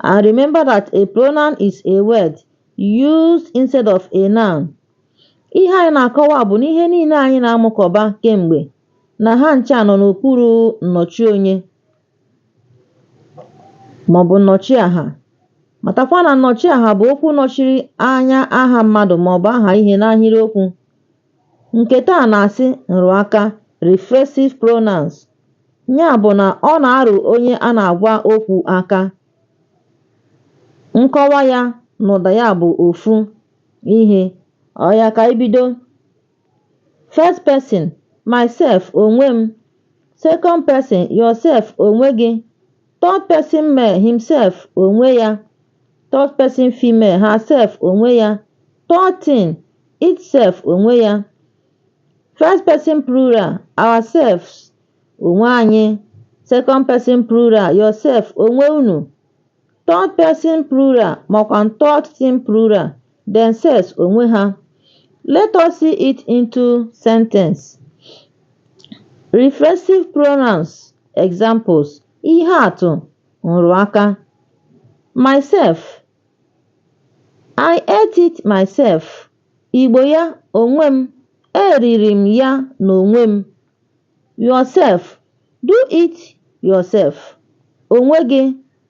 And remember that a pronoun is a word used instead of a noun. Ihe anyị na-akọwa bụ na ihe niile anyị na-amụkọba kemgbe na ha ncha nọ n'okpuru nnọchi onye maọbụ nnọchi aha. Matakwa na nnọchi aha bụ okwu nọchiri anya aha mmadụ maọbụ aha ihe n'ahịrịokwu. Nke taa na-asị nrụaka, reflexive pronouns. Ya bụ na ọ na-arụ onye a na-agwa okwu aka. Nkọwa ya na ụda ya bụ ofu ihe. Ọya ka anyị bido. First person, myself, onwe m. Second person, yourself, onwe gị. Third person male himself onwe ya Third person female herself onwe ya Third thing itself onwe ya First person plural ourselves onwe anyị Second person plural yourself onwe unu Third person plural makwa third thing plural Themselves onwe ha, Let us see it into sentence. Reflexive pronouns examples ihe atụ nrụaka myself I ate it myself Igbo ya onwe m eriri m ya n'onwe m yourself do it yourself onwe gị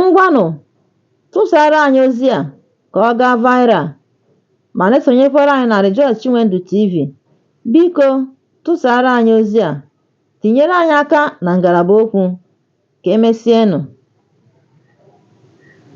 Ngwanụ tụsara anyị ozi a ka ọ gaa viral ma na-esonyekwara anyị na Rejoice Chinwendu TV. Biko tụsara anyị ozi a, tinyere anyị aka na ngalaba okwu. Ka emesienụ.